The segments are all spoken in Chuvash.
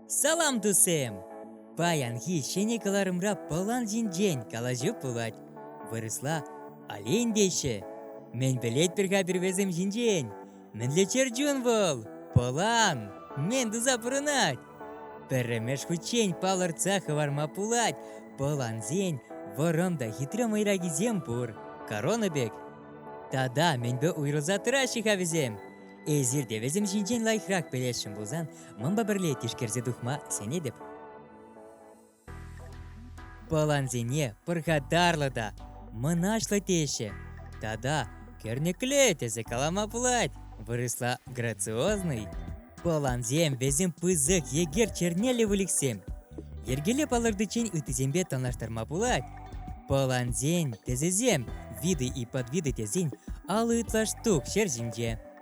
Салам тусем! Паянхи ҫӗнӗ кӑларӑмра пӑлан ҫинчен калаҫу пулать. Вырӑсла олень теҫҫӗ. Мӗн пӗлетпӗр-ха пирвесем ҫинчен? Мӗнле чӗрчун вӑл? Пӑлан! Мӗн туса пурӑнать? Пӗрремеш хутчен палӑртса хӑварма пулать, пӑлансен вӑрӑм та хитре мӑйракисем пур. Корона пек. Тата мӗнпе уйрӑлса тӑраҫҫӗ-ха вӗсем? Эсир те вӗсем ҫинчен лайӑхрах пӗлесшӗн пулсан, манпа пӗрле тишкерсе тухма сенетӗп. Пӑлансене пархатарлӑ та мӑнаҫлӑ теҫҫӗ. Тата кӗрнекле тесе калама пулать, вырӑсла грациозный. Пӑлансем вӗсем пысӑк егер чернеллӗ выльӑхсем. Йӗркелле палӑртиччен ыттисемпе танлаштарма пулать. Пӑлансен тӗсӗсем виды и подвиды тесен алӑ ытла штук ҫер ҫинче.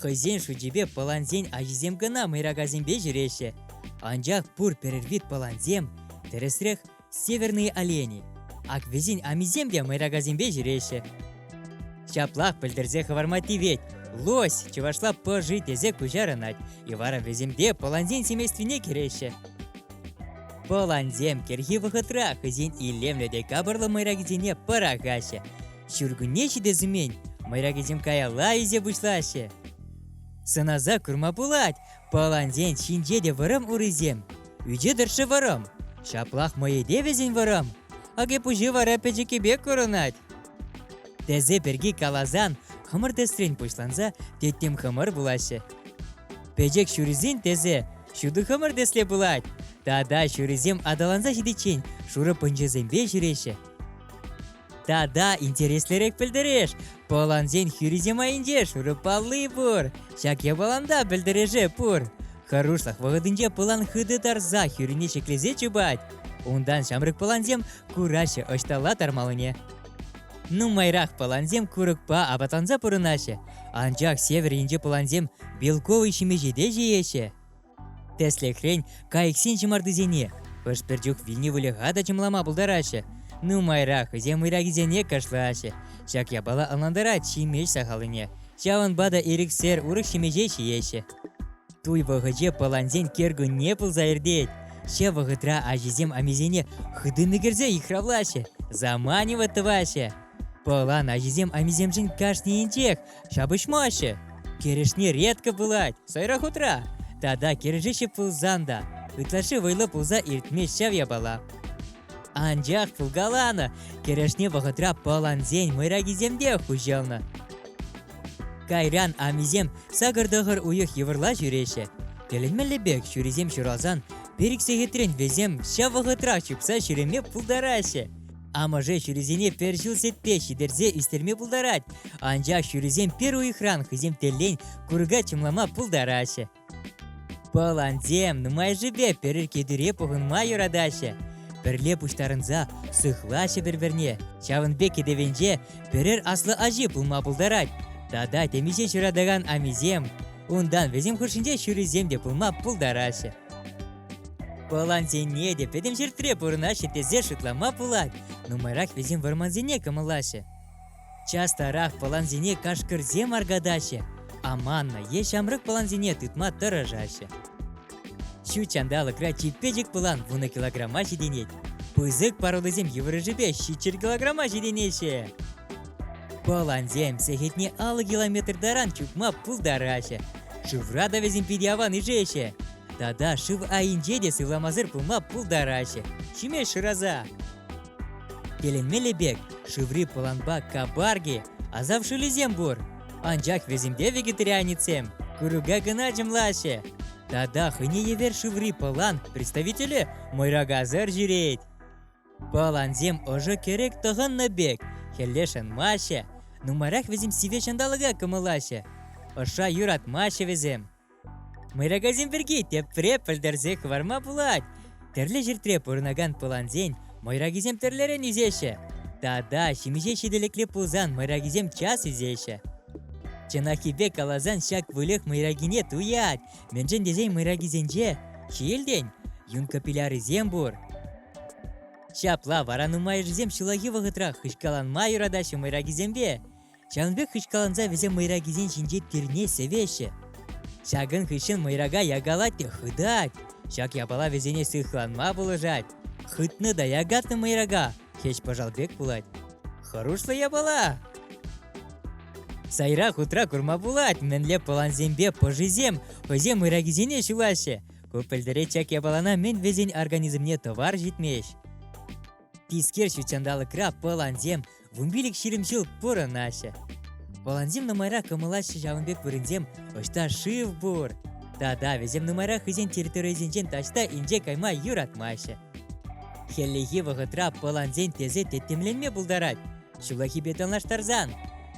Хӑйсен шучӗпе пӑлансен ачисем кӑна мӑйракасемпе ҫӳреҫҫӗ, анчах пур пӗрер пӑлансем, тӗрӗсрех, северные олени. Ак вӗсен амисем те мӑйракасемпе ҫӳреҫҫӗ. Ҫаплах пӗлтерсе хӑварма тивет, лось чӑвашла пӑши тесе куҫарӑнать, и вара вӗсемпе пӑлансен семействине кӗреҫҫӗ. Пӑлансем кӗрхи вӑхӑтра хӑйсен илемлӗ те капӑрлӑ мӑйракисене пӑрахаҫҫӗ. Ҫуркунне ҫитес мӑйракисем каялла илсе пуҫлаҫҫӗ. Сӑнаса курма пулать, палансен ҫинче те вӑрӑм урисем. Ӳче тӑршшӗ вӑрӑм. Ҫаплах мӑйӗпе вӗсен вӑрӑм. Акипуҫи вара пӗчӗккипе пек курӑнать. Тесе пирки каласан, хӑмӑр тӗсрен пуҫланса теттем хӑмӑр пулаҫҫӗ. Пӗчӗк ҫурисен тӗсӗ ҫутӑ хӑмӑр тӗсле пулать. Тата ҫурисем аталанса ҫитиччен шурӑ пӑнчӑсемпе ҫӳреҫҫӗ. Тата интереслӗрех пӗлтереш, пӑлансен хӳрисем айӗнче шурӑпалли пур. Ҫак япаланта пӗлтереше пур. Хӑрушлӑх вӑхӑтӗнче пӑлан хытӑ тарса хӳрине ҫӗклесе чупать. Унтан ҫамрӑк пӑлансем кураҫҫӗ ӑҫталла тармаллине. Нумайрах пӑлансем курӑкпа апатланса пурӑнаҫҫӗ, анчах север енчи пӑлансем белковый ҫимӗҫе те ҫиеҫҫӗ. Тӗслӗхрен, кайӑксен ҫӑмартисене хӑш-пӗр чух вилнӗ выльӑха та чӑмлама пултараҫҫӗ. Нумайрах вӗсем ыйракисене кашлаҫҫӗ. Ҫак япала ӑнлантарать ҫимеҫ сахаллине. Ҫавӑнпа та ирӗксер урӑх ҫимӗҫе ҫиеҫҫӗ. Туй вӑхӑчӗ пӑлансен кӗркунне пулса иртет. Ҫав вӑхӑтра аҫисем амисене хытӑн ӗкерсе йыхравлаҫҫӗ, заманивать тӑваҫҫӗ. Пӑлан ачисем амисемшӗн кашнийӗнчех ҫапӑҫмаҫҫӗ. Кӗрешни редко пулать, сайра хутра. Тата кӗрешеҫҫӗ пулсан та, ытлашши вӑйлӑ пулса иртмест ҫав япала. Анчах пулкаланӑ, кӗрешни вӑхӑтра пӑлансен мӑйракисем те хуҫӑлнӑ. Кайран амисем сакӑр-тӑхӑр уйӑх йывӑрла ҫӳреҫҫӗ. Тӗлӗнмелле пек ҫурисем ҫуралсан, пер сехетрен вӗсем ҫав вӑхӑтрах чупса ҫӳреме пултараҫҫӗ. Амӑшӗ ҫурисене пӗр ҫул сетпе ҫитерсе ӳстерме пултарать, анчах ҫурисем пӗр уйӑхран хӑйсем тӗллен курӑка чӑмлама пултараҫҫӗ. Пӑлансем нумайӑшӗпе пӗр кӗтӳре пухӑнма юратаҫҫӗ. Пӗрле пуҫтарӑнса сыхлаҫҫӗ пӗр-пӗрне. Ҫавӑн пек кӗтӗвенче пӗрер аслӑ ачи пулма пултарать. Тата темиҫе ҫуратакан амисем, унтан вӗсем хушшинче ҫурисем те пулма пултараҫҫӗ. Пӑлансене те пӗтӗм ҫӗртре пурӑнаҫҫӗ тесе шутлама пулать. Нумайрах вӗсем вӑрмансене кӑмӑллаҫҫӗ. Частарах пӑлансене кашкӑрсем аркатаҫҫӗ. Аманнӑ е ҫамрӑк пӑлансене тытма тӑрӑшаҫҫӗ. Ҫут ҫанталӑкра чипечӗк пӑлан вунӑ килограмма ҫитӗнет. Пысӑк пародӑсем йывӑрӑшӗпе ҫиччӗр килограмма ҫитӗнеҫҫӗ. Балансем сехетне алӑ километр таран чупма пултараҫҫӗ. Шывра та вӗсем питӗ аван ишеҫҫӗ. Тата шыв айӗнче те сывламасӑр пулма пултараҫҫӗ. Ҫиме шыраса. Тӗлӗнмелле пек, шыври пӑланпа кабарги, асав шӑлӗсем пур. Анчах вӗсемпе вегетарианецсем курӑка кӑна чӑмлаҫҫӗ. Тата хӑйне евер шыври пӑлан представителӗ мӑйракасӑр ҫӳрет. Пӑлансем ӑшӑ кӗрӗк тӑхӑннӑ пек хӗлле шӑнмаҫҫӗ, нумаях вӗсем сивӗ ҫанталӑка кӑмӑллаҫҫӗ. Ӑшша юратмаҫҫӗ вӗсем. Мӑйракасем пирки тепре пӗлтерсе хӑварма пулать. Тӗрлӗ ҫӗртре пурӑнакан пӑлансен мӑйракисем тӗрлӗрен ӳсеҫҫӗ. Тата ҫимӗҫе ҫителӗклӗ пулсан мӑйракисем час ӳсеҫҫӗ. Чӑнаххипе каласан ҫак выльӑх мӑйракине туять, Мӗншӗн тесен мӑйракисенче ҫиелтен юнкӑ пилярисем пур. Ҫапла вара нумайӑшӗсем ҫуллахи вӑхӑтрах хыҫкаланма юратаҫҫӗ мӑйракисемпе. Ҫавӑн пек хыҫкаланса вӗсем мӑйракисен ҫинче тирне сӗвеҫҫӗ. Ҫакӑн хыҫҫӑн мӑйрака якалать те хытать. Ҫак япала вӗсене сыхланма пулӑшать. Хытнӑ та якатнӑ мӑйрака Хӗҫ-пӑшал пек пулать. Хӑрушлӑ япала! Сайра хутра курма пулать, мӗнле пӑлансемпе пӑшисем хӑйсем ыракисене ҫулаҫҫӗ. Ку пӗлтеретчӗк япалана мӗн вӗсен организмне тӑвар ҫитмест. Тискер ҫутҫанталӑкра пӑлансем вумпилӗк ҫирӗмҫул пурӑнаҫҫӗ. Пӑлансем нумайрах кӑмӑлаҫҫӗ ҫавӑн пек вырӑнсем ӑҫта шыв пур. Тата вӗсем нумайрах хӑйсен территорийӗсенчен таҫта инҫе кайма юратмаҫҫӗ. Хӗллехи вӑхӑтра пӑлансен тесе тӗттӗмленме пултарать, ҫуллахипе танлаштарсан.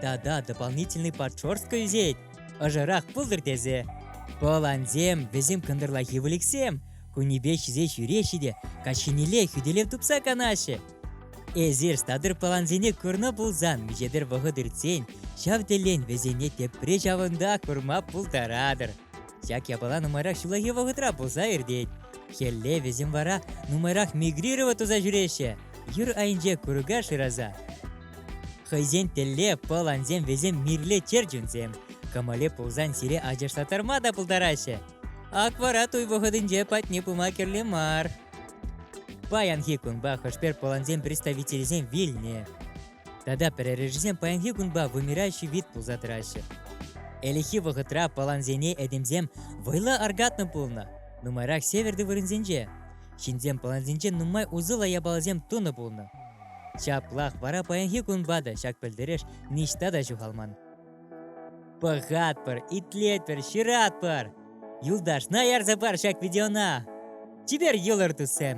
Тата дополнительный подшерстка ӳсет, ӑшӑрах пултӑр тесе. Пӑлансем, вӗсем кӑнтӑрлахи выльӑхсем, кунӗпе ҫисе ҫӳреҫҫӗ те каҫхинелле хӳтӗлев тупса канаҫҫӗ. Эсир статыр пӑлансене курнӑ пулсан миҫедер вӑхӑт иртсен ҫав тӗлен вӗсене тепре ҫавӑнта курма пултаратӑр. Ҫак япала нумайрах ҫуллахи вӑхӑтра пулса иртет. Хӗлле вӗсем вара нумайрах мигрировать туса ҫӳреҫҫӗ, юр айӗнче курка шыраса. Хӑйсен телле пыл ансем вӗсем мирле чӗрчунсем. Кӑмӑле пулсан сире ачашлатарма та пултараҫҫӗ. Акварат уй вӑхӑтӗнче патне пыма кирлӗ мар. Паянхи кунпа хӑшпер пӑлансем представителӗсем вилнӗ. Тата прорежисем паянхи кунпа вымирающий вид пулса тӑраҫҫӗ. Ӗлӗкхи вӑхӑтра палансене этемсем вӑйлӑ аркатнӑ пулнӑ, нумайрах северти вырӑнсенче. Ҫынсем палансенче нумай усӑллӑ япаласем тунӑ пулнӑ. Ҫаплах вара паянхи кунпа та ҫак пӗлтереш ниҫта та ҫухалман. Пӑхатпӑр, итлетпӗр, ҫыратпӑр! Юлташна ярса пар ҫак видеона! Чипер йӑлӑр, туссем!